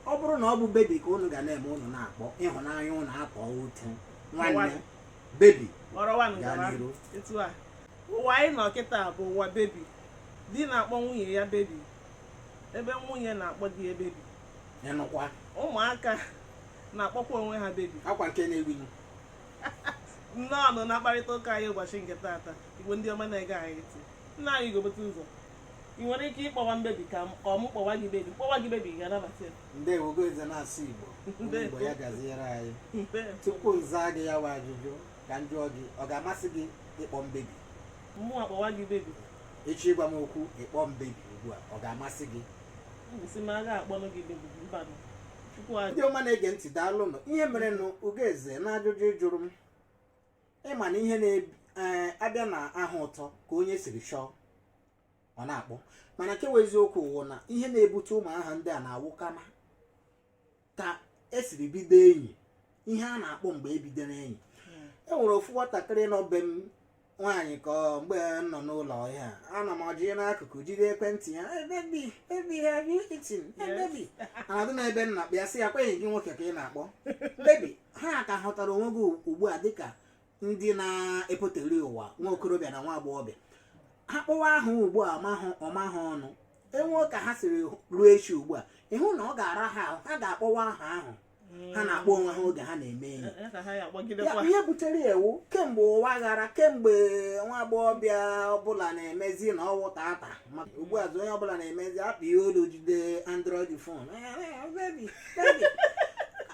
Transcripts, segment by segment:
ọ bụrụ na ọ bụ bebi ka unu ga na-eme unu na-akpọ ịhụnanya unu akpọ otu nwanne bebi gaa n'iru ụwa anyị nọ kịta bụ ụwa bebi di na-akpọ nwunye ya bebi ebe nwunye na-akpọ di ya bebi ụmụaka na-akpọkwa onwe ha bebi ọ kwa nke na-ewu nnọọnụ na mkparịta ụka anyị ụbọchị nke taata igbo ndị ọma na-ege anyị ntị nna anyị gobote ụzọ ị nwere ike ịkpọwa m bebi ka m- ka ọ mụ kpọwa gị bebi kpọwa gị bebi ị ga-anabata ya ndewo ugo eze na-asụ igbo Ndewo. igbo ya gaziere anyị Ndewo. tupu m zaa gị ya wụ ajụjụ ka m jụọ gị ọ ga-amasị gị ịkpọ m bebi mụnwa kpọwa gị bebi echi ịgwa m okwu ịkpọ m bebi ugbu a ọ ga-amasị gị sị m ga-akpọnụ gị bebi mbanụ chukwu ajụ ndị ọma na-ege ntị daalụnụ ihe merenụ ugo eze na ajụjụ ị jụrụ m ị ma na ihe na-abịa eh, na aha ụtọ ka onye siri chọọ ọ na-akpọ mana nke wụ eziokwu wụ na ihe na-ebute ụmụ aha ndị a na-awụkwanụ ka esiri bido enyi ihe a na-akpọ mgbe ebidoro enyi hmm. e nwere ofu nwatakịrị nọ be m nwaanyị ka mgbe m nọ n'ụlọ ya ana m ọjị n'akụkụ jide ekwentị ya bebi have you eaten bebi anọdụ m ebe m na-akpọ ya sị ya ọ kwa gị nwoke ka ị na-akpọ bebi ha ka hụtara onwe gị ugbu a dịka ndị na-epụtali ụwa nwa okorobịa na nwa agbọghọbịa ha kpọwa aha ugbu a ọ maa ha ọnụ e nwee ka ha siri ruo echi ugbu a ị hụ na ọ ga-ara ha ahụ ha ga-akpọwa aha ahụ ha na-akpọ onwe ha oge ha na-eme enyi ihe butere ewu kemgbe ụwa ghara kemgbe nwa agbọghọbịa ọbụla na-emezi na ọ wụ tata ugbu a onye ọbụla na-emezi akpịrị olu jide android phone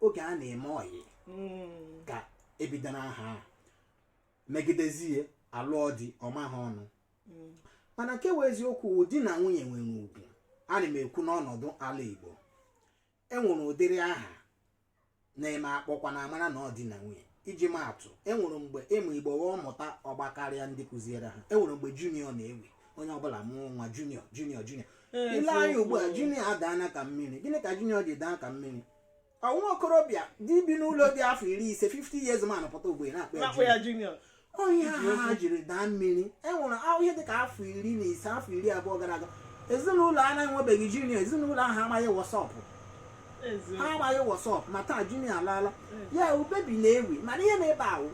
oge a na-eme ọyị Mm. ka e bidoro aha a megidezie alụọ di ọ maa ha ọnụ Mm. mana nke wụ eziokwu wụ di na nwunye nwere ugwu ana m ekwu n'ọnọdụ ala igbo enwere ụdịrị aha na-eme akpọkwa na amara na ọ di na nwunye iji maa atụ enwere mgbe ụmụ igbo ọ mụta ọ gbakarịa ndị kụziere ha enwere mgbe junior na-ewi onye ọbụla mụọ nwa junior junior junior i lee anya ugbu a junior adaana ka mmiri gịnị ka junior ji daa ka mmiri nwa okorobịa di bi n'ụlọ dị afọ iri ise 50 years man pụta ugbu a ị na-akpọ ya na-akpọ ya junior ọ ihe ahụ ha jiri daa mmiri e nwere ahụ ihe dịka afọ iri na ise afọ iri abụọ gara aga ezinụlọ a na-enwebeghị junior ezinụlọ ahụ amaghị what's up ha eziokwu amaghị what's up ma taa junior alaala ya wụ bebi na-ewi mana ihe nọ ebe ahụ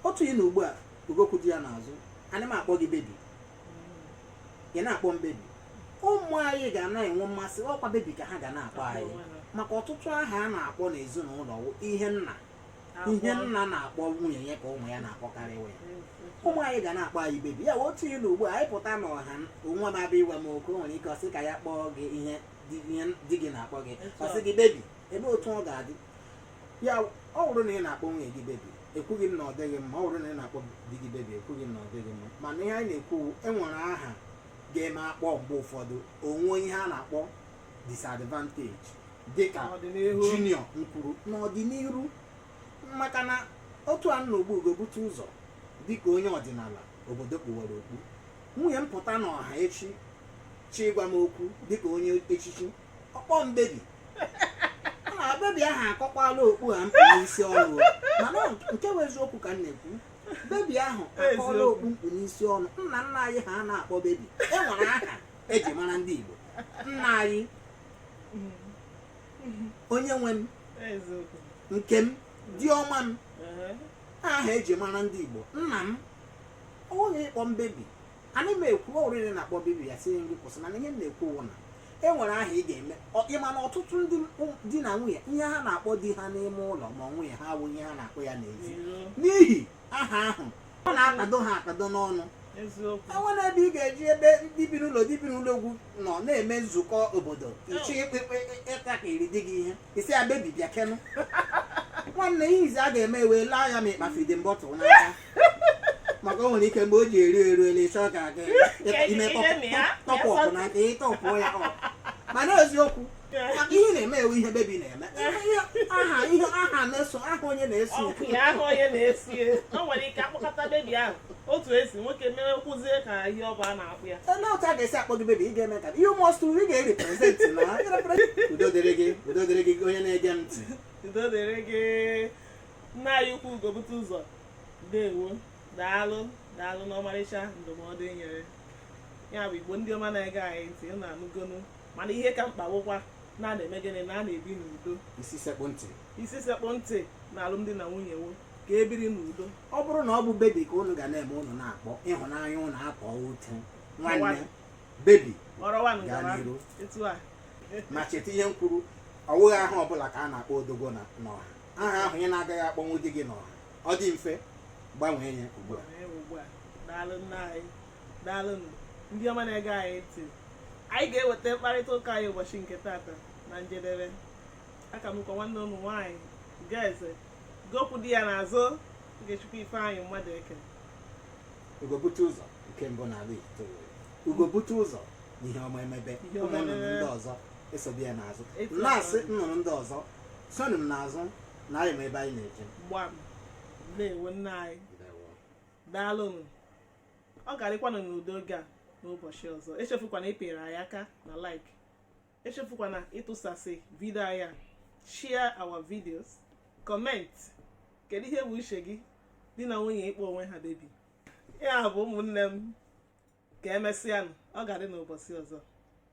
otu ị nọ ugbu a okwu dị ya n'azụ ana m akpọ gị bebi ị na-akpọ m bebi ụmụ anyị ga na-enwe mmasị ọ kwa bebi ka ha ga na-akpọ anyị maka ọtụtụ aha a na-akpọ n'ezinụlọ wụ ihe nna ihe nna na-akpọ nwunye ya ka ụmụ ya na-akpọkarị ya ụmụ anyị ga na-akpọ anyị bebi ya otu ị nọ ugbu a anyị pụta n'ọha nwa m abịa ịgwa m okwu o nwere ike ọ sị ka ya kpọọ gị ihe di ihe di gị na-akpọ gị ọ sị gị bebi ele otu ọ ga-adị ya ọ bụrụ na ị na-akpọ nwunye gị bebi ekwughị m na ọ dịghị mma ọ bụrụ na ị na-akpọ di gị bebi ekwughị m na ọ dịghị mma mana ihe anyị na-ekwu e nwere aha ga-eme akpọ mgbe ụfọdụ o nwee ihe a na-akpọ disadvantage dịka junior nkwuru n'ọdịnihu maka na otu a m nọ ugbu a Ugobuteụzọ dịka onye ọdịnala obodo kpuwara okpu nwunye m pụta n'ọha echi chọọ ịgwa m okwu dịka onye echichi ọ kpọọ m bebi na bebi ahụ akọkwala okpu ahụ m kpu n'isi ọnụ mana nke bụ eziokwu ka m na-ekwu bebi ahụ akọọla okpu m kpu n'isi ọnụ nna nna anyị ha na-akpọ bebi e nwere aha eji mara ndị Igbo nna anyị onye nwe m nke m di ọma m aha eji mara ndị Igbo nna m onye ị kpọ m bebi anaghị m ekwu ọ wụrụ ị na-akpọ bebi asị m gị kwụsị mana ihe m na-ekwu wụ na e nwere aha ị ga-eme ị ma na ọtụtụ ndị di na nwunye ihe ha na-akpọ di ha n'ime ụlọ ma nwunye ha wụ ihe ha na-akpọ ya n'ezi n'ihi aha ahụ ọ na-akpado ha akpado n'ọnụ e nwere ebe ị ga-eje ebe ndị bi n'ụlọ ndị bi n'ụlọ ugwu nọ na-eme nzukọ obodo ị chọọ ịtakịrị di gị ihe ị sị ya bebi bịakenụ nwanne ihe izi a ga-eme wụ ile anya ma ị kpa feeding bottle n'aka maka o nwere ike mgbe o ji eru eru ele ịchọ ka aga ime top up n'aka ị top ya up mana eziokwu maka ihe na-eme wụ ihe bebi na-eme aha ihe aha na-eso aha onye na-eso ya aha onye na-esi o nwere ike akpọkọta bebi ahụ otu esi nwoke mere kwụzie ka ihe ọ bụ a na-akpọ ya ele otu a ga-esi akpọ gị bebi ị ga-eme ka you must ị ga-erepresent na udo dịrị gị udo dịrị gị onye na-ege m ntị udo dịrị gị nna anyị ukwu Ugobuteụzọ ndewo daalụ daalụ n'ọmarịcha ndụmọdụ i nyere ya bụ igbo ndị ọma na-ege anyị ntị unu anụgonu mana ihe ka mkpa wụkwa na a na-eme gịnị na a na-ebi n'udo isi sekpụ ntị isi sekpụ ntị na alụmdi na nwunye wụ ka e biri n'udo ọ bụrụ na ọ bụ bebi ka unu ga na-eme unu na-akpọ ịhụnanya unu akpọ ute nwanne bebi ọrọwa nụ gaa gawa n'iru etu a ma cheta ihe m kwuru ọ wụghị aha ọbụla ka a na-akpọ odogwu n'ọha aha ahụ ị na-agaghị akpọnwu di gị n'ọha ọ dị mfe gbanwee ya ugbu a daalụ nna anyị daalụ nụ ndị ọma na-ege anyị ntị anyị ga-eweta mkparịta ụka anyị ụbọchị nke tata na njedebe aka m kwa nwanne unu nwaanyị Ugoeze Go kwụ di ya n'azụ Ogechukwu Ifeanyị mmadụ eke. Ugo bute ụzọ nke mbụ n'ala Igbo ugo bute ụzọ ihe ọma emebe ụmụ nnụnụ ndị ọzọ esobe ya n'azụ na-asị nnụnụ ndị ọzọ sonụ m n'azụ na anyị ma ebe anyị na-eje gbam ndewo nna anyị daalụnụ ọ ga-adịkwanụ n'udo oge a n'ụbọchị ọzọ echefukwana ịpịrị anyị aka na like echefukwana ịtụsasị vidio anyị a share our videos comment kedu ihe bụ uche gị di na nwunye ịkpọ onwe ha baby ya bụ ụmụnne m ka emesịanụ ọ ga-adị n'ụbọchị ọzọ